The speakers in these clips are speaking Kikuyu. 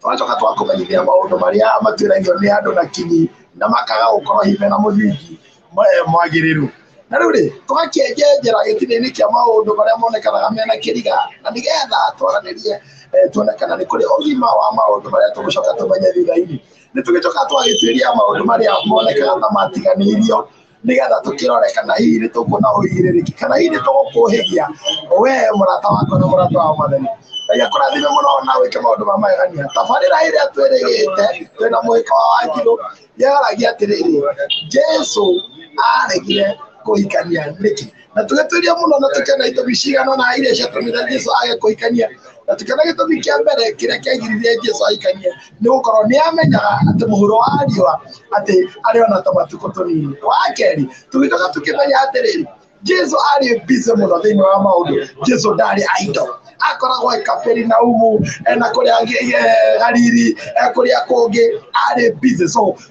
tũgacoka tũgakũmenyithia maũndũ marĩa matuĩragio nĩ andũ na kinyi na makaga gũkorwo hihi mena mũthingi eh, mwagĩrĩru na rĩu rĩ tũgakĩenjenjera gĩtina-inĩ kĩa maũndũ marĩa monekanaga mena kĩriga na nĩgetha twaranĩrie eh, tuone kana nĩ kũrĩ ũgima wa maũndũ marĩa tũgũcoka tũmenye thutha-inĩ nĩ tũgĩcoka twagĩtuĩria maũndũ marĩa monekaga ta matiganĩirio nigetha tukirorekana hihi ni tukuona uigirĩrĩki kana hihi ni tũgũkũhĩgia we mũrata wakwa na mũrata wa mwathani Ngai akũrathime mũno na wĩke maũndũ ma magegania tabarĩra ĩrĩa twĩrĩgĩte twĩna mũhĩka wa wanjirũ yaragia atĩrĩrĩ jesu aregire kũhikania nĩkĩ na tũgĩtuĩria mũno na tũkĩona itũmi cigana ũna iria ciatũmire jesu age kũhikania na tũkĩona gĩtũmi kĩa mbere kĩrĩa kĩagiririe jesu ahikanie nĩ gũkorwo nĩ amenyaga atĩ mũhuro wa riũa atĩ arĩ ona ta matukũ tũnini wa kerĩ tũgĩcoka tũkĩmenya atĩrĩrĩ jesu arĩ bize mũno thĩinĩ wa maũndũ jesu ndarĩ aido akoragwo e kaperinaumu na kũrĩa galili kũrĩa kũngĩ arĩ bize so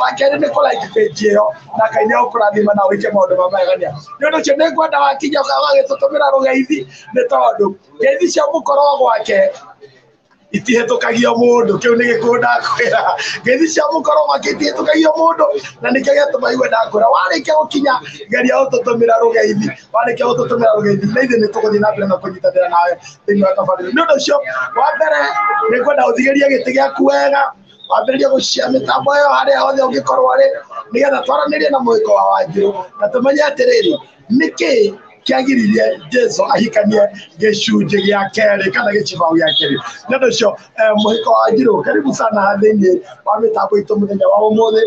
wa kerĩ nĩ kũraika page ĩyo na ngai nĩ ũkũrathima na wĩke maũndũ ma magegania nĩ ũndũ ũcio nĩ ngwenda wakinya ũgagĩtũtũmĩra rũgeithi nĩ tondũ ngeithi cia mũkorwo gwake itihĩtũkagio mũndũ kĩu nĩ gĩkuũ ndakwĩra ngeithi cia mũkorwo gwake itihĩtũkagio mũndũ na nĩkĩo gĩatũma iwe ndakwĩra warĩkia gũkinya geria ũtũtũmĩra rũgeithi warĩkia gũtũtũmĩra rũgeithi na ithuĩ nĩ tũgũthiĩ na mbere na kũnyitanĩra nawe thĩinĩ wa tabarĩra nĩ ũndũ ũcio wa mbere nĩ ngwenda ũthigĩrie gĩtĩ gĩaku wega wambĩrĩria gũciamĩta muoyo harĩa hothe ũngĩkorwo arĩ nĩgetha twaranĩrie na mũhĩko wa wanjirũ na tũmenye atĩrĩrĩ nĩkĩ kĩagiririe jesu ahikanie gĩcunjĩ gĩa kerĩ kana gĩcibaũ gĩa kerĩ nĩ ũndũ ũcio eh, mũhĩko wa njirũ karibu sana thĩinĩ wa mĩtambo itũ mũthenya wa ũmũthĩ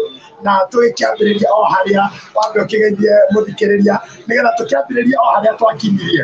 na tũgĩkĩambĩrĩria o harĩa wambe ũkĩgeithie mũthikĩrĩria nĩgetha tũkĩambĩrĩria o harĩa twakinyirie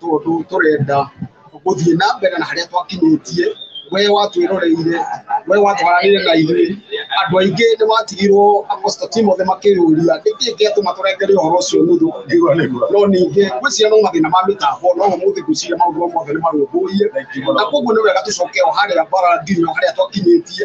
tondũ tũrenda gũthiĩ na mbere na harĩa twakinyĩtie we watwĩroreire we watwaranire na ithuĩ andũ aingĩ nĩ watigirwo aposta timothe makĩyũria nĩkĩ kĩatũma tũrengere ũhoro ũcio nuthu no ningĩ gwĩciria no mathĩna ma mĩtambo no ũmũthĩ ngwĩciria maũndũ mothe nĩ marũmbũiye na koguo nĩ wega tũcoke o harĩa bara nginya harĩa twakinyĩtie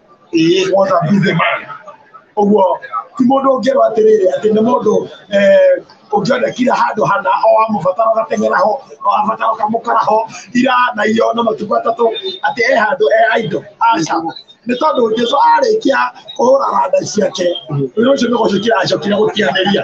Ee, nwata busy man. Ũguo ti mũndũ ũngĩrwo atĩrĩrĩ atĩ nĩ mũndũ eh, ũngĩonekire handũ hana o amũbatara ũgateng'era ho o abatara ũkamũkora ho ira na iyo na matukũ atatũ atĩ e handũ e aido aca nĩ tondũ Jesu arĩkia kũhũra randa ciake wĩra ũcio nĩ gũcokire acokire gũtianĩria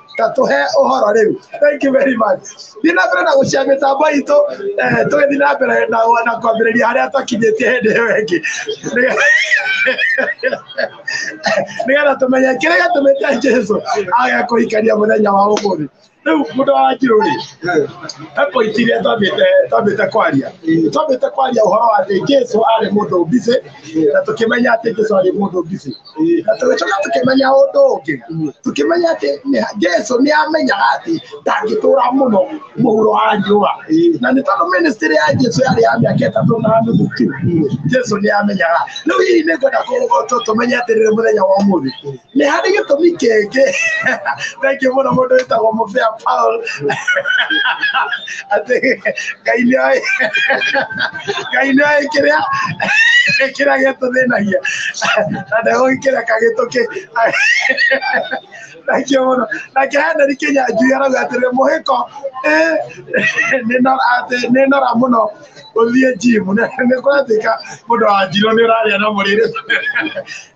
katũhe ũhoro rĩu thank you very much thiĩ na mbere na gũcia mĩtambo itũ eh, tũgĩthiĩ na mbere na na kwambĩrĩria harĩa twakinyĩtie hĩndĩ ĩyo ĩngĩ nĩgetha tũmenye kĩrĩa gĩatũmĩte jesu age kũhikania mũthenya wa ũmũthĩ rĩu mũndũ wa wanjirũ rĩ he point iria twambĩte twambĩte kwaria twambĩte kwaria ũhoro wa atĩ jesu arĩ mũndũ busy na tũkĩmenya atĩ jesu arĩ mũndũ busy tũgĩcoka tũkĩmenya ũndũ ũngĩ tũkĩmenya atĩ nĩ- jesu nĩ amenyaga atĩ ndangĩtũra mũno mũhuro wa riũa na nĩ tondũ ministry ya jesu yarĩ ya mĩaka ĩtatũ na nuthu tu jesu nĩ amenyaga rĩu hihi nĩ ngwenda kũ- tũ- tũmenye atĩrĩrĩ mũthenya wa ũmũthĩ nĩ harĩ gĩtũmi kĩngĩ thengiũ mũno mũndũ wĩtagwo mũbĩa paul atĩ ngai nĩoĩ ngai nĩoĩ kĩrĩa kĩrĩa gĩtũthĩnagia na ndegũgĩkĩreka gĩtũkĩ thengiũ mũno nake heneri kĩnyanjui arauga atĩrĩ mũhĩko ĩ nĩno- atĩ nĩnora mũno ũthiĩ njimu nĩkwatuĩka mũndũ wa njirũ nĩũrarĩa na mũrĩrĩ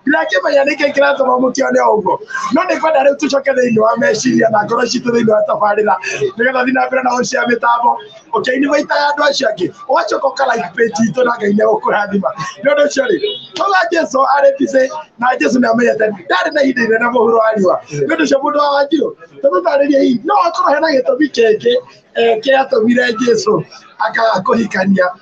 ndirakĩmenya nĩkĩ kĩratũma mũkĩone ũguo no nĩ kwenda rĩu tũcoke thĩinĩ wa meciria na ngoro citũ thĩinĩ wa tabarĩra nĩgetha thiĩ na mbere na ũcia mĩtambo ũkĩini maitaga andũ acio angĩ ũgacoka ũkalike page itũ na ngai nĩagũkũrathima nĩ ũndũ ũcio rĩ tũga jesu arĩ busy na jesu nĩamenyete ndarĩ na ihinda inene mũhuro wa riũa nĩ ũndũ ũcio mũndũ wa wanjirũ tũmũtarĩrie hihi no akorwo hena gĩtũmi kĩngĩ eh, kĩatũmire jesu akakũhikania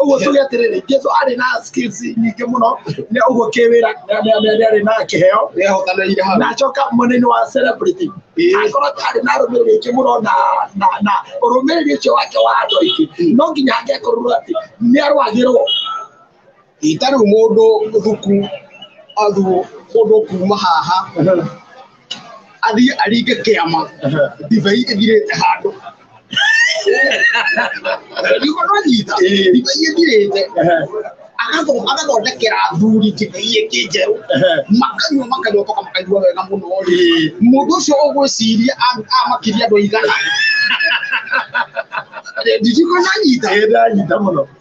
ũguo tuge atĩrĩrĩ jesu arĩ na skills nyingĩ mũno nĩ ũguo kĩwĩra nĩ- nĩ- nĩ- nĩ arĩ na kĩheo nĩahotanĩire hau na acoka mwena-inĩ wa celebrity Ĩĩ. akorwo arĩ na rũmĩrĩri ingĩ mũno na na na ũrũmĩrĩri ũcio wake wa andũ aingĩ no nginya angekorwo atĩ nĩ arwagĩrwo itarĩ mũndũ thuku athu mũndũ kuma haha athiĩ aringe kĩama ndibei ĩthirĩte handũ nĩguo nanyita ndibei ĩthirĩte agatho- agathondekera athuri ndibei ĩngĩ njerũ makanyua makanyua toka makanyua wega mũno rĩ mũndũ ũcio ũgwĩciria a- amakiria andũ aigana nditiko nanyita ndanyita mũno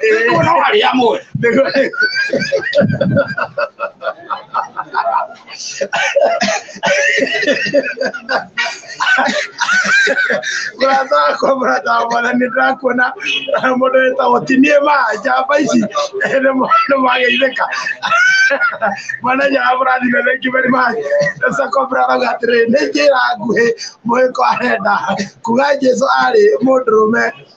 Nĩguo no harĩ amwe. Mũrata wakwa mũrata wa mwana nĩ ndĩrakuona mũndũ wĩtagwo ti niĩ ma njamba ici nĩ mwa- nĩ mwageithĩka mwana nyara mũrathime thengi very much sako brarauga atĩrĩ nĩ njĩra nguhĩ mũhĩko arenda kuga jesu arĩ mũndũrũme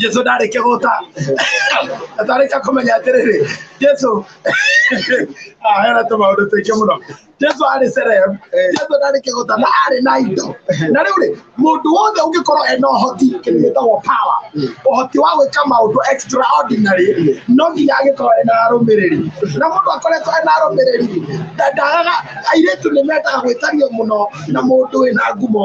jesu ndarĩkia gũta ndarĩkia kũmenya atĩrĩrĩ jesu Ah, hena tũmaũndũ tũingĩ mũno jesu arĩ serem jesu ndarĩkia gũta na arĩ na indo na rĩu rĩ mũndũ wothe ũngĩkorwo ena ũhoti kĩndũ gĩtagwo power ũhoti wa gwĩka maũndũ extraordinary no nginya agĩkorwo ena arũmĩrĩri na mũndũ akoretwo ena arũmĩrĩri ndagaga airĩtu nĩ mendaga gwĩtanio mũno na mũndũ wĩna ngumo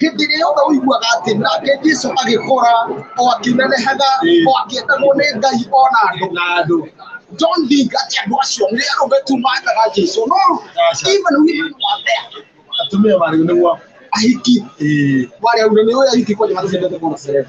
hĩndĩ ĩyo ũiguaga atĩ nake jesu agĩkũra o akĩnenehaga o akĩendagwo nĩ ngai o na andũ na andũ don't think ati andũ acio nĩ arũme tu mathaga jesu no even women were there atumia marĩ nĩguo ahiki warĩa ume nĩ ũyũ ahiki kwani matendete kuona serere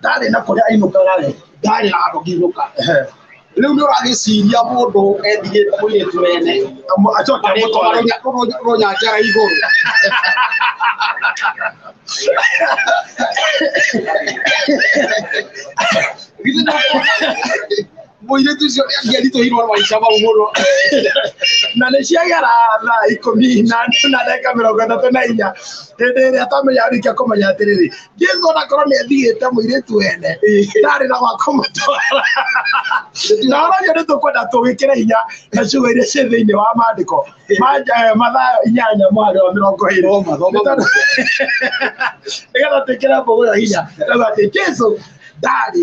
ndarĩ na kũrĩa ainũkaga rĩ ndarĩ na handũ ngĩinũka rĩu nĩ ũragĩciria mũndũ endigĩte mũirĩtu wene acoke amũtware rũnyanjara igũrũ Githĩ nĩ- mũirĩtu ũcio nĩ angĩaritũhirwo maica mau mũno na nĩ ciagera thaa ikũmi na na ndagĩka mĩrongo ĩtatũ na inya hĩndĩ ĩrĩa twamenya arĩkia kũmenya atĩrĩrĩ jesu onakorwo nĩ athigĩte mũirĩtu wene ndarĩ na wakũmũtwara na ũragio nĩ tũkwenda tũgĩkĩre hinya na ciugo iria ciĩ thĩinĩ wa maandĩko ma eh, mathayo inyanya mwarĩ wa mĩrongo ĩrĩ Thoma, thoma. Nĩ tondũ- nĩgetha twĩkĩre mbũgũ ĩyo hinya tauga atĩ jesu ndarĩ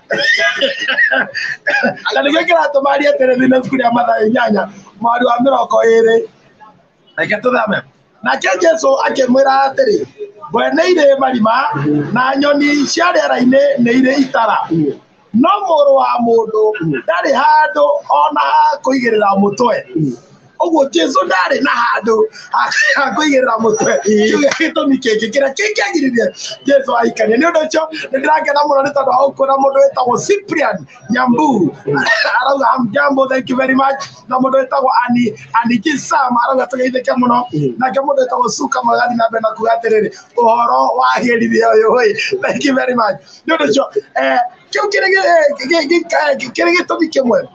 na nĩkĩo kĩratũma arie atĩrĩ nĩ ibuku rĩa mathayo inyanya mwarĩ wa mĩrongo ĩrĩ reke tũthame nake jesu akĩmwĩra atĩrĩ ngwe nĩ irĩ marima na nyoni cia rĩera-inĩ nĩ irĩ itara no mũrũ wa mũndũ ndarĩ handũ ona ha kũigĩrĩra mũtwe owo jesu nari na hadu agoyera mutwe kiugaito mikengekera kingiagiririe jesu aikania ni undu ucio nindirangena muno ni tondu aukura mundu witagwo cyprian nyambu arauga hamjambo thank you very much na mundu witagwo ani ani kisam arauga tugeithike muno nake mundu witagwo suka magathi na mbere na kuga atiriri uhoro wa hirithia uyu wi thank you very much ni undu ucio eh kiu kiri gitumi kimwe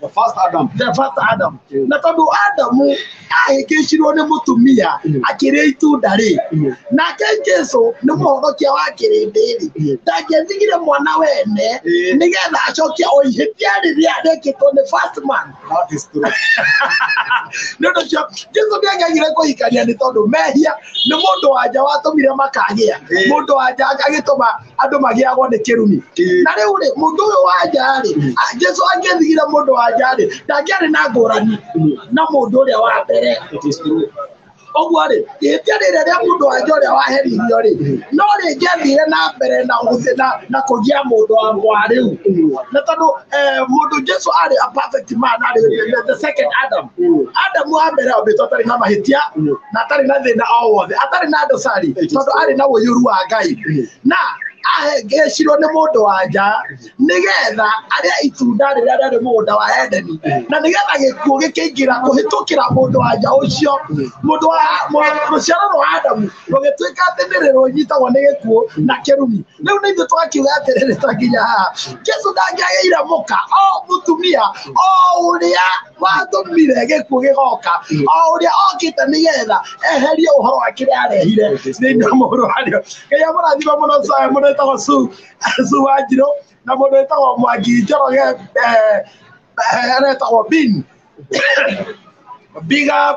the first Adam the first Adam na tondå Adamu ahĩngĩcirwo nĩ mũtumia akĩrĩa itunda rĩ nake Jesu nĩ mũhonokia wa kĩrĩndĩ rĩ ndangĩthigire mwana wene Ĩĩ. nĩgetha acokia o ihĩtia rĩrĩa rekĩtwo nĩ first man that is true nä å ndå cio jesu nä angegire kå hikania nä tondå mehia nä må ndå wanja watå mire makagä a Ĩĩ. må ndå wanja agä tå ma andå magiagwo nä kä rumi Ĩĩ. na rä u rä må ndå å yå wa nja rä jesu angäthigire må ndå wa nja rä ndangäarä na ngå rani na må ndå å rä a wa mbere It is true. ũguo rĩ ihĩtia rĩrĩa rĩa mũndũ wa nja ũrĩa waheririo rĩ no rĩngĩathire na mbere na gũthiĩ na na kũgia mũndũ wa mwa rĩu na tondũ eh, mũndũ jesu arĩ a perfect man arĩ the second adam adamu wa mbere ombĩtwo atarĩ na mahĩtia na atarĩ na thĩna o wothe atarĩ na ndosari tondũ arĩ na ũiyũru wa ngai na ahengecirwo nĩ mũndũ wa nja nĩgetha arĩa itunda rĩrĩa rĩarĩ mũgũnda wa edeni na nĩgetha gĩkuũ gĩkĩingĩra kũhĩtũkĩra mũndũ wa nja ũcio mũndũ wa rũciaro rwa adamu rũgĩtuĩka atĩ nĩ rĩrũnyitagwo nĩ gĩkuũ na kĩrumi rĩu nĩ ithuĩ twakiuga atĩrĩrĩ ta nginya haha jesu ndangĩagĩire mũka o mũtumia o ũrĩa watũmire gĩkuũ gĩgoka o ũrĩa okĩte nĩgetha eherie ũhoro wa kĩrĩa arehire thĩinĩ wa mũhũro warĩo ngai amũrathima mũno Sae, mũndũ wĩtagwo su su wanjirũ na mũndũ wĩtagwo mwangi njoroge eh, eh, arĩa wĩtagwo bin big up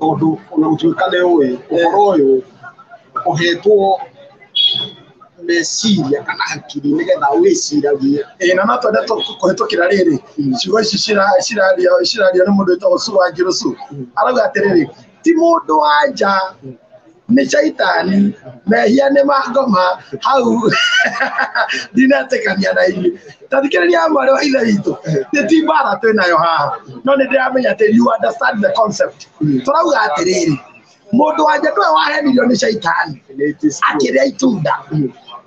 tondũ ona gũtuĩka nĩ ũĩ ũhoro ũyũ ũhetwo meciria kana hakiri nĩgetha wĩciragie ĩĩ na no twende tũ- kũhĩtũkĩra rĩrĩ ciugo ici cira- ciraria ciraria nĩ mũndũ wĩtagwo Sue Wanjirũ Sue arauga atĩrĩrĩ ti mũndũ wa nja nĩ caitani mehia nĩ mangoma hau ndinetĩkania na inyuĩ tathikĩrĩria mwarĩ wa ithe witũ nĩ ti mbara twĩ nayo haha no nĩ ndĩramenya atĩ you understand the concept tũrauga atĩrĩrĩ mũndũ wanja nĩwe wahenirio nĩ caitani akĩrĩa itunda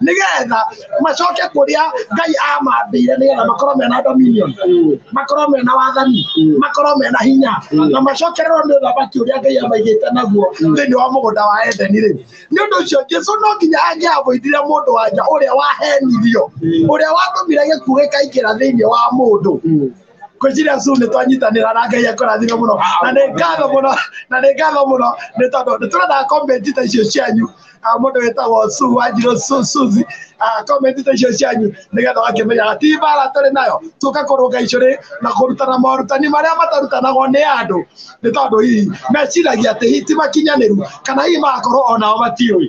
nigetha macoke kuria ngai amambire nigetha makorwo mena dominion makorwo mena wathani makorwo mena hinya na macokererwo ni uthamaki uria ngai amaigite naguo thiini wa mugunda wa edeni ri ni undu ucio jesu no nginya angiavoithire mundu wanja uria wahenirio uria watũmire gĩkuũ gĩkaingĩra thĩinĩ wa mũndũ ngwĩciria su nĩ twanyitanĩra na ngai akũrathime mũno na nĩ ngatho mũno na nĩ ngatho mũno nĩ tondũ nĩ tũrendaga komenti ta icio cianyu Ah, mũndũ wĩtagwo su wanjirũ Su- suzi Ah, komenti ta icio cianyu nĩgetha ũgakĩmenya ti mbara tũrĩ nayo tũka kũrũnga icũrĩ na kũrutana morutani marĩa matarutanagwo nĩ andũ nĩ tondũ hihi meciragia atĩ hihi ti makinyanĩru kana hihi magakorwo onao matiũĩ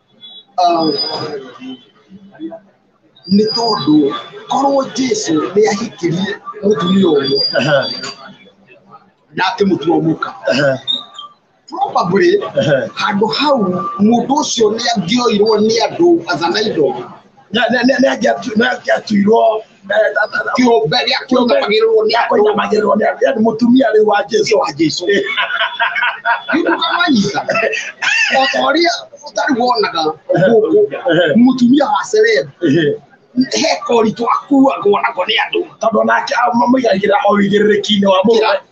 nĩ tondũ korwo jesu nĩ ahikĩrie mũtumia ũmwe Ehe, na akĩmũtua mũka ehe, probably ehe. handå hau må ndå å cio nä angioirwo nä andå athana indo Nĩ- nĩ- nĩ- nĩ angĩatu- nĩ angĩatuirwo kĩũmbe gĩa kũnyamagĩrĩrwo nĩ andũ kũnyamagĩrĩrwo nĩ andũ yani mũtumia rĩu wa jesu wa jesu ndũkamanyita o ta ũrĩa ũtarĩ wonaga gũkũ mũtumia wa celeb he koritũ akuagwo nako nĩ andũ tondũ onake amũigagĩra o wĩigĩrĩrĩki-inĩ wa mũndũ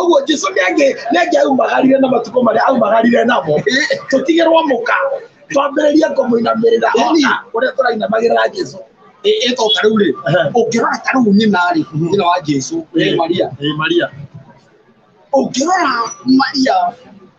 ũguo jesu nĩange aumagarire na matukũ marĩa aumagarire namo tũtigĩrwo mũka twambĩrĩrie kũmũinamĩrĩra ona ũrĩa tũrainamagĩrĩra jesu ĩto ta rĩu rĩ ũngĩrora ta rĩu nyina rĩ nyina wa jesu maria maria ũngĩrora maria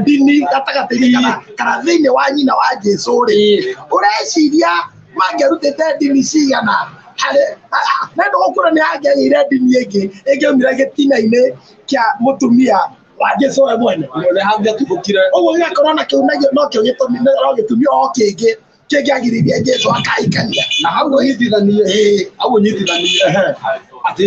ndini gatagatĩ-inĩ kana kana thĩinĩ wa nyina wa jesu rĩ Ĩĩ. ũreciria mangĩrutĩte ndini cigana harĩ nendo gũkũra nĩ angĩagĩire ndini ĩngĩ ĩngĩaumire gĩtina-inĩ kĩa mũtumia wa jesu we mwene Nĩ hangĩatuthũkire. ũguo gĩgakorwo na kĩu nagio nokĩo gĩtũmi no gĩtumi o kĩngĩ kĩngĩagiririe jesu akahikania Na hau ũnyitithanie, Ĩĩ. hau ũnyitithanie atĩ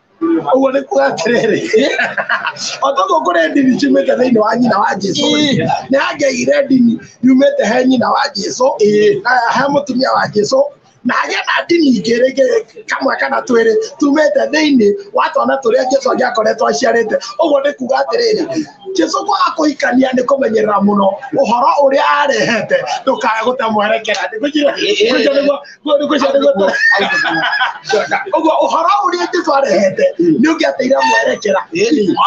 ũguo nĩ kuga atĩrĩrĩ o toguo kũrĩ ndini ciumĩte thĩinĩ wa nyina wa jesu Ĩĩ. nĩ hangĩagire ndini yumĩte he nyina wa jesu Ĩĩ. na he mũtumia wa jesu na hagĩa na ndini ingĩ rĩngĩ kamwe kana twĩrĩ tumĩte thĩinĩ wa twana tũrĩa jesu angĩakoretwo aciarĩte ũguo nĩ kuga atĩrĩrĩ jesu kwaga kũhikania nĩ kũmenyerera mũno ũhoro ũrĩa arehete ndũkae gũte mwerekera Nĩ kũnjĩra- Ĩĩ. kũnjĩra nĩguo Ngũrũ gũcio nĩ gũtũ. Ũguo ũhoro ũrĩa Jesu arehete nĩ ũngĩateire mwerekera.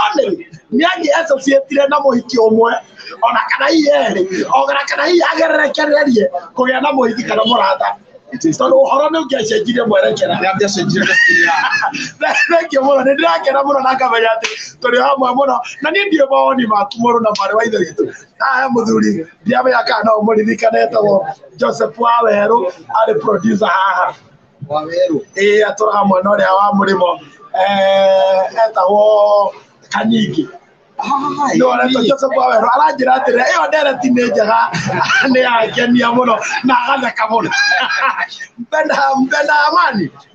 Only nĩ anyi associatire na mũhiki ũmwe ona kana hihi erĩ ona kana hihi agererekererie kũgĩa na mũhiki kana mũrata tondũ ũhoro nĩ ũngĩacenjirie mwerekera thengio mũno nĩ ndĩrakena mũno na ngamenya atĩ tũrĩ hamwe mũno na niĩ ndiĩ mawoni maku mũrũ na mwarĩ wa ithe witũ Ah, mũthuri ndiamenya kana no mũririkane etagwo joseph wawerũ arĩ producer haha wawerũ ĩĩ atũraga mwena ũrĩa wa mũrĩmo eh, etagwo kanyingĩ nä oretwo joseph wawerå aranjä ra atä rä ä yo ndereti nä njega nä yangenia må no na agatheka må no mbenda mbenda amani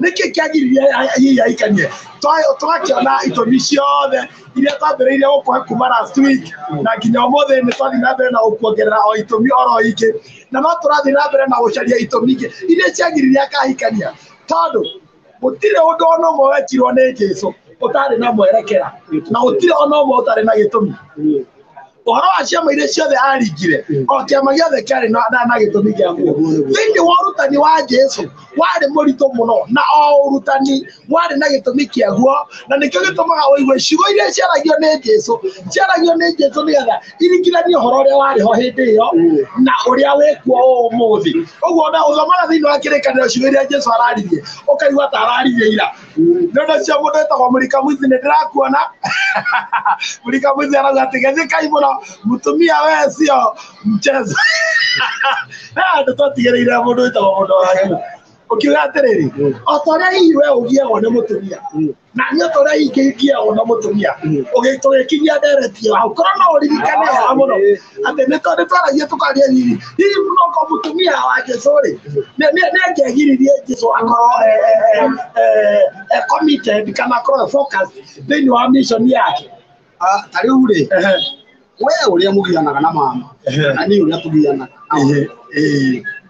nĩkĩ kĩagiririe ahihi aikanie twakĩona itũmi ciothe iria twambĩrĩirie gũkũhe kuma last week na nginya ũmũthĩ nĩ twathiĩ na mbere na gũkuongerera o itũmi oro ingĩ na no tũrathiĩ na mbere na gũcaria itũmi ingĩ iria ciagiririe akahikania tondũ gũtirĩ ũndũ ona ũmwe wekirwo nĩ Jesu ũtarĩ na mwerekera na gũtirĩ ona ũmwe ũtarĩ na gĩtũmi ũhoro wa ciama iria ciothe aringire o kĩama gĩothe kĩarĩ na na- na gĩtũmi gĩakuo thĩinĩ wa ũrutani wa jesu warĩ mũritũ mũno na o ũrutani warĩ na gĩtũmi kĩaguo na nĩkĩo gĩtũmaga ũigue ciugo iria ciaragio nĩ jesu ciaragio nĩ jesu nĩgetha iringithanie ũhoro ũrĩa warĩ ho hĩndĩ ĩyo na ũrĩa wĩkuo ũmũthĩ ũguo na ũthomaga thĩinĩ wa kĩrĩkanĩro ciugo iria jesu araririe ũkaigua ta araririe ira ndono cia mundu itagwo murika mwizi ni ndirakuona murika mwizi arauga ati gethikai muno mutumia we cio mchezo andu twatigireire mundu witagwo mundu wanyu ukiuga atiriri o ta uria hihi we ugiagwo ni mutumia na ni o ta uria hihi ngigiagwo na mutumia ugikinyia ndereti io hau korwo no uririkane wega muno atĩ nĩ tondũ twaragia tũkaria riri hihi no ko mũtumia wa jesu rĩ nĩ- nĩ- nĩ angĩagiririe jesu akorwo eh, eh, eh, eh, eh, committed kana akorwo focused thĩinĩ wa mission yake Ah, ta rĩu rĩ Ehe, we ũrĩa mũgianaga na mama ehe, na niĩ ũrĩa tũgianaga ehe, eh.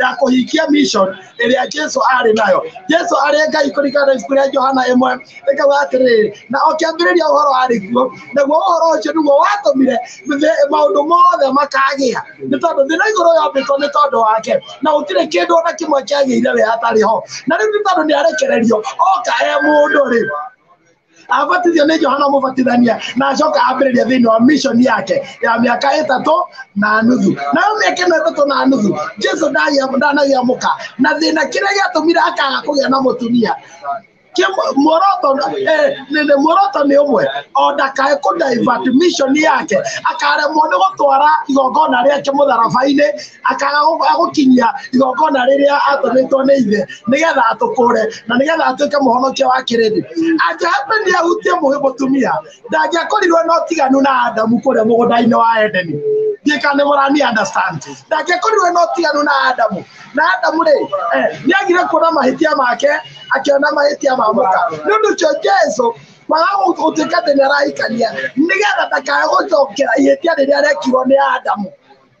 ya kũhingia mission ĩrĩa Jesu arĩ nayo. Jesu arĩ Ngai kũringana na ibuku rĩa Johana ĩmwe ĩkauga atĩrĩrĩ, na o kĩambĩrĩria ũhoro arĩ kuo, naguo ũhoro ũcio nĩguo watũmire thĩ- maũndũ mothe makagĩa, nĩ tondũ thĩ na igũrũ yombĩtwo nĩ tondũ wake, na gũtirĩ kĩndũ ona kĩmwe kĩagĩire we hatarĩ ho. Na rĩu nĩ tondũ nĩ arekererio oka e mũndũ-rĩ, abatithio nĩ johana mũbatithania na acoka ambĩrĩria thĩinĩ wa mission yake ya mĩaka ĩtatũ na nuthu nayo mĩaka ĩno ĩtatũ na nuthu jesu ndagĩa- ndanagĩamũka na thĩna kĩrĩa gĩatũmire akaga kũgĩa na mũtumia Kĩmwe- muoroto eh, nĩ- nĩ- muoroto nĩ ũmwe o ndakae kũ divert mission yake akaremwo nĩ gũtwara igongona rĩake mũtharaba-inĩ akaga agũkinyia igongona rĩrĩa atũmĩtwo nĩ ithe nĩgetha atũkũre na nĩgetha atuĩke mũhonokia wa kĩrĩndĩ angĩhapeni ahutie mũhĩ mũtumia ndangĩakorirwo na ũtiganu na adamu kũrĩa mũgũnda-inĩ wa edeni ndiĩka nĩ mũrani understand ndangĩakorirwo na ũtiganu na adamu na adamu rĩ eh, nĩ agire kuona mahĩtia make akĩona mahĩtia ma mũka nĩ ũndũ ũcio jesu kwaga gũtuĩka atĩ nĩ arahikania nĩgetha ndakae gũcokera ihĩtia rĩrĩa rekirwo nĩ adamu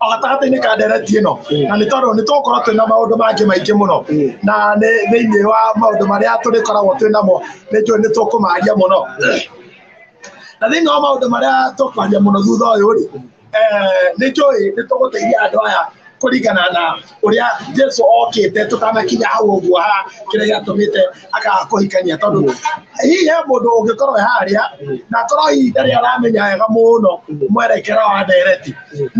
o gatagatĩ-inĩ ka ndereti ĩno na nĩ tondũ nĩ tũgũkorwo twĩna maũndũ mangĩ maingĩ mũno na nĩ thĩinĩ wa maũndũ marĩa tũrĩkoragwo twĩ namo nĩ njũĩ nĩ tũkũmaria mũno na thĩinĩ wa maũndũ marĩa tũkwaria mũno thutha ũyũ rĩ nĩ njũĩ nĩ tũgũteithia andũ aya kũringana na ũrĩa jesu okĩte tũtanakinya hau ũguo ha kĩrĩa gĩatũmĩte akaga kũhikania tondũ hihi he mũndũ ũngĩkorwo e harĩa na akorwo hihi ndarĩ aramenya wega mũno mwerekera wa ndereti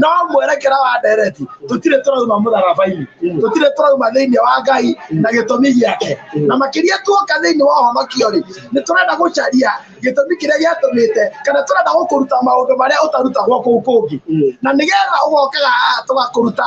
no mwerekera wa ndereti tũtirĩ tũrauma mũtharaba-inĩ tũtirĩ tũrauma thĩinĩ wa ngai na gĩtũmi gĩake na makĩria tuoka thĩinĩ wa ũhonokio rĩ nĩ tũrenda gũcaria gĩtũmi kĩrĩa gĩatũmĩte kana tũrenda gũkũruta maũndũ marĩa ũtarutagwo kũu kũngĩ na nĩgetha ũgokaga haha tũgakũruta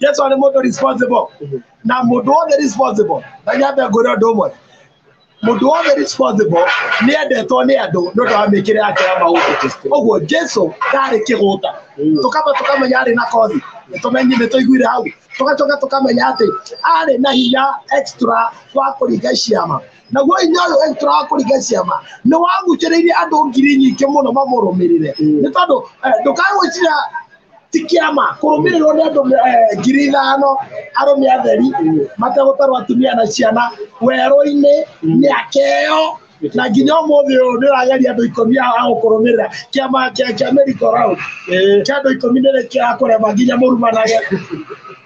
jesu nĩ mũndũ responsible na mũndũ wothe responsible na nyambe ngwĩre ũndũ ũmwe mũndũ wothe responsible nĩ endetwo nĩ andũ nĩ ũndũ wa mĩkĩre yake ya maũndũ ũguo jesu ndarĩ kĩgũta tũkamba tũkamenya arĩ na kothi nĩtũmenyi nĩtũiguire hau tũgacoka tũkamenya atĩ arĩ na hinya extra wa kũringa ciama naguo hinya ũyũ extra wa kũringa ciama nĩ wagucĩrĩirie andũ ngiri nyingĩ mũno mamũrũmĩrĩre nĩ tondũ eh, ndũkagwĩciria ti kĩama kũrũmĩrĩrwo nĩ andũ eh, ngiri ithano arũme atheri mategũtarwo atumia na ciana werũ-inĩ mĩaka ĩyo na nginya ũmũthĩ ũyũ nĩ ũrageria andũ ikũmi a a gũkũrũmĩrĩra kĩama kĩa kĩa merry go round kĩa andũ ikũmi nĩ kĩrakũrema nginya mũrumanage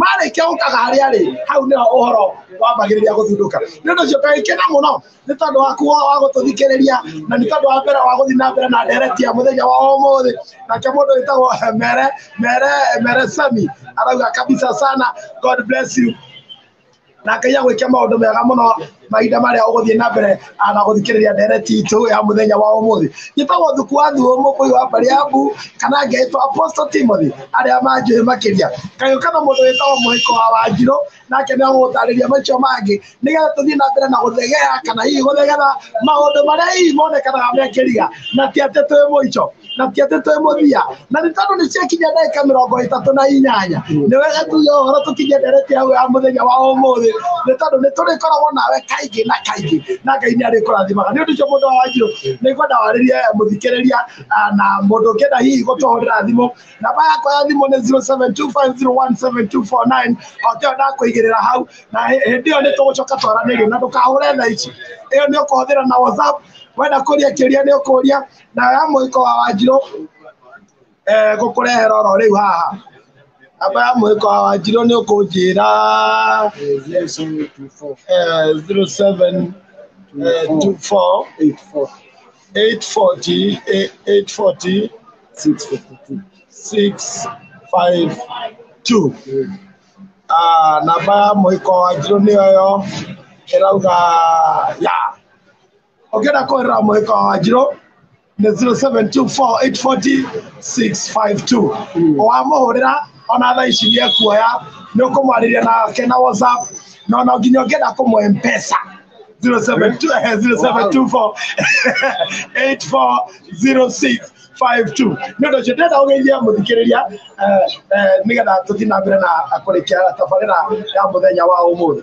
marĩkia gũkaga harĩa rĩ hau nĩho ũhoro wambagĩrĩria gũthundũka nĩ ũndũ ũcio ngagĩkena mũno nĩ tondũ waku wa wa gũtũthikĩrĩria na nĩ tondũ wa mbere wa gũthiĩ na mbere na ndereti ya mũthenya wa ũmũthĩ nake mũndũ wĩtagwo eh, mere mere mere sami arauga kabisa sana god bless you na ngai agwĩke maũndũ mega mũno mahinda marĩa ũgũthiĩ na mbere ah, na gũthikĩrĩria ndereti itũ ya mũthenya wa ũmũthĩ njĩtagwo thuku wa thuo mũkũyũ wa mbariambu kana ngetwo apostle timothy arĩa manjũĩ makĩria kagĩũka na mũndũ wĩtagwo mũhĩko wa wanjirũ nake nĩ agũgũtarĩria macio mangĩ nĩgetha tũthiĩ na mbere na gũthegea kana hihi gũthegera maũndũ marĩa hihi monekanaga mekĩria na ti atĩ twĩ mũico na tiatĩ twĩ mũthia na nĩ tondũ nĩ ciakinya ndagĩka mĩrongo ĩtatũ na inyanya nĩ wega tuge ũhoro tũkinyie ndereti hau ya mũthenya wa ũmũthĩ nĩ tondũ nĩ tũrĩkoragwo nawe kaingĩ na kaingĩ na ngai nĩ arĩkũrathimaga nĩ ũndũ ũcio mũndũ wa wanjirũ nĩ ngwenda warĩrie mũthikĩrĩria ah, na mũndũ ũngĩenda hihi gũtũhũrĩra thimũ namba yakwa ya thimũ nĩ 0725017249 okĩo ndakũigĩrĩra hau na hĩ- hĩndĩ ĩyo nĩ tũgũcoka twaranĩrie na ndũkahũre thaa ici ĩyo nĩ ũkũhũthĩra na whatsapp wenda kũria kĩũria nĩ ũkũria na ya mũhĩko wa wanjirũ eh, gũkũrehera oro rĩu haha namba ya mũhĩko wa wanjirũ nĩ ũkũnjĩra eh, 07 eh, 24 840 eh, 840 652 Ah, namba ya mũhĩko wa njirũ nĩyo yo ĩrauga ya ũngĩenda kũhũrĩra mũhĩka wa wanjirũ nĩ 0724840652 wamũhũrĩra ona thaa ici nĩ ekuoya nĩ ũkũmwarĩria nake na whatsapp na ona nginya ũngĩenda kũmũhe mpesa 0724840652 nĩ ũndũ ũcio ndĩrenda ũgeithie mũthikĩrĩria eh, eh, nĩgetha tũthiĩ na mbere na kũrĩkia tabarĩra ya mũthenya wa ũmũthĩ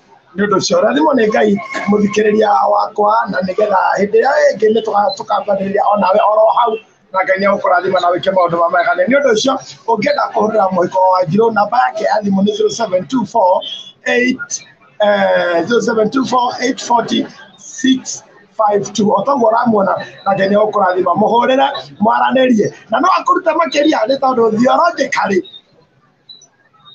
nĩ ũndũ ũcio rathimo nĩ ngai mũthikĩrĩria wakwa na nĩgetha hĩndĩ ĩyo ĩngĩ nĩ tũkambagĩrĩria o nawe oro hau na ngai nĩ agũkũrathima na wĩke maũndũ ma mega nĩ ũndũ ũcio ũngĩenda kũhũrĩra mũhiko wa njirũ namba yake ya thimũ nĩ 0724 52 otoguo ũramuona na ngai nĩ agũkũrathima mũhũrĩre mwaranĩrie na no akũrute makĩria nĩ tondũ thiorongĩkarĩ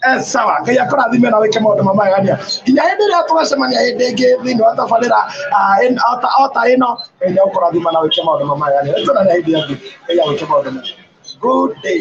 Eh, sawa ngai akũrathime na wĩke maũndũ mamagania nginya hĩndĩ ĩrĩa tũgacemania hĩndĩ ĩngĩ thĩinĩ wa tabarĩra ah, ota ĩno ngai nĩ agũkũrathima na wĩke maũndũ mamagania nĩtũnane hĩndĩ ĩngĩ ngai agwĩke maũndũ mega good day